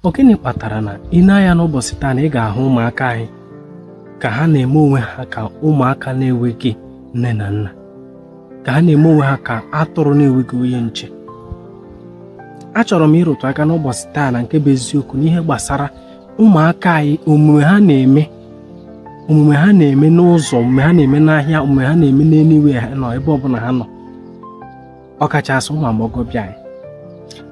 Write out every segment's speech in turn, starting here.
ọ gịnị kpatara na i nee anya n'ụbọchị taa na ị ga-ahụ ụmụaka anyị ka ha na-eme onwe ha ka ụmụaka na-enweghị nne na nna ka ha na-eme onwe ha ka atụrụ na-enweghị onye nche achọrọ m ịrụtụ aka n'ụbọchị taa na nke bụ eziokwu n'ihe gbasara ụmụaka anyị omume ha na-eme omume ha na-eme n'ụzọ omume ha na-eme n'ahịa omume ha na-eme na anywhere ha nọ ebe ọbụla ha nọ ọkachasị ụmụ agbọghọbịa anyị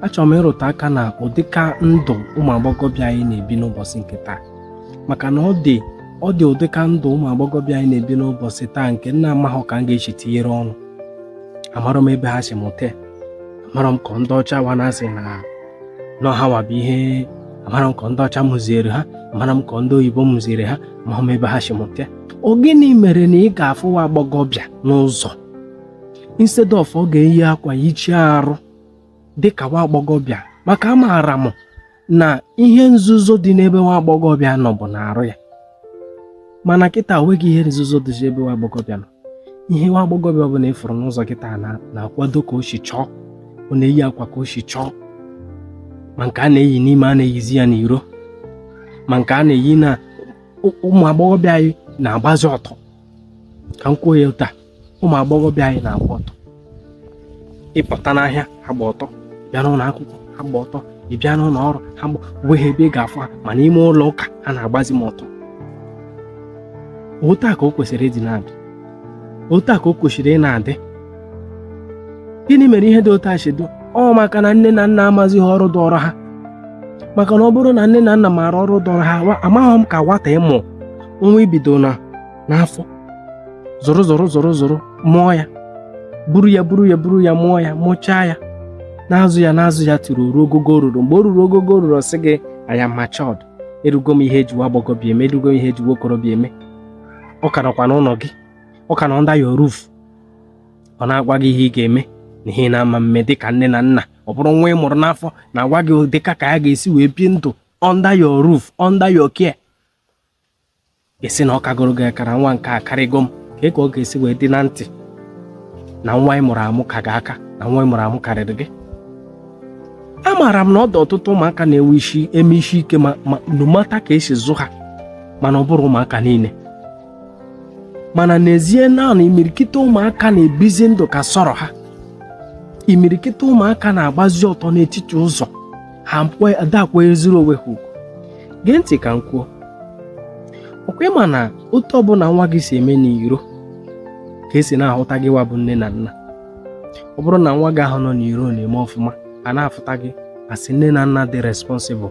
achọrọ m ịrụtụ aka na ụdịka ndụ ụmụ agbọghọbịa anyị na-ebi n'ụbọchị nke taa maka na ọ dị ọ dị ụdịka ndụ ụmụ agbọghọbịa anyị na-ebi n'ụbọchị taa nke na amaghị ka m ga-eji tinyere ọnụ amarọ m ebe ha si mụta amarọ m ka ndị ọcha wa na-asị na nọ ha nwa bụ ihe amarọ m ka ndị ọcha mụziere ha amarọ m ka ndị oyibo mụziere ha ma m ebe ha si mụta ọ gịnị mere na ị ga-afụ nwa agbọghọbịa n'ụzọ instead of ọ ga-eyi akwa yichie arụ dịka nwa agbọghọbịa maka amaara m na ihe nzuzo dị n'ebe nwa agbọghọbịa nọ bụ n'arụ ya mana kịta nweghị ihe nzuzo dị ebe nwa agbọghọbịa nọ ihe nwa agbọghọbịa ọbụla ị fụrụ n'ụzọ kịta na-akwado ka o si chọọ ọ na-eyi akwa ka o si chọọ ma nke a na-eyi n'ime a na-eyizi ya n'iro ma nke a na-eyi na ụmụ agbọghọbịa anyị na-agbazi ọtọ ka m kwuo ya taa ụmụ agbọghọbịa anyị na-agba ọtọ ị pụta n'ahịa ha agba ọtọ ị bịa n'ụlọ akwụkwọ ha agba ọtọ ị bịa n'ụlọ ọrụ ha agba nweghị ebe ị ga-afụ ha ma n'ime ụlọ ụka ha na-agbazi m ọtọ otu a ka o kwesịrị ịdị na-adị otu a ka o kwesịrị ị na-adị gịnị mere ihe dị otu a si dị ọ maka na nne na nna amazighị ọrụ dọrọ ha maka na ọ bụrụ na nne na nna maara ọrụ dọrọ ha amaghị m ka nwata ị mụ nwa i bido na n'afọ zụrụ zụrụ zụrụ zụrụ mụọ ya buru ya buru ya buru ya mụọ ya mụchaa ya na-azụ ya na-azụ ya toro ruo ogogo o ruru mgbe o ruru ogogo o ruru ọ sị gị I am matured erugo m ihe eji nwa agbọghọbịa eme erugo m ihe eji nwa okorobịa eme ọ ka nọkwa n'ụlọ gị ọ ka nọ under your roof ọ na-agwa gị ihe ị ga-eme na ihe na-ama mme dịka nne na nna ọ bụrụ nwa ị mụrụ n'afọ na-agwa gị dịka ka ya ga-esi wee bie ndụ under your roof under your care esi na ọ kagoro gị aka na nwa nke a akarịgo m kee ka ọ ga-esi wee dị na ntị na nwa ị mụrụ amụ ka gị aka na nwa ị mụrụ amụ karịrị gị amaara m na ọ dị ọtụtụ ụmụaka na-enwe isi eme isi ike ma ma no matter ka esi zụ ha mana ọ bụrọ ụmụaka niile mana n'ezie naanị imirikite ụmụaka na-ebizi ndụ ka sọrọ ha imirikite ụmụaka na-agbazi ọtọ n'etiti ụzọ ha ada akwanyeziri onwe ha ugwu gee ntị ka m kwuo ọ kwa ị ma na otu ọbụla nwa gị si eme n'iro ka e si na-ahụta gịwa bụ nne na nna ọ bụrụ na nwa gị ahụ nọ n'iro na-eme ọfụma a na-afụta gị as nne na nna dị responsible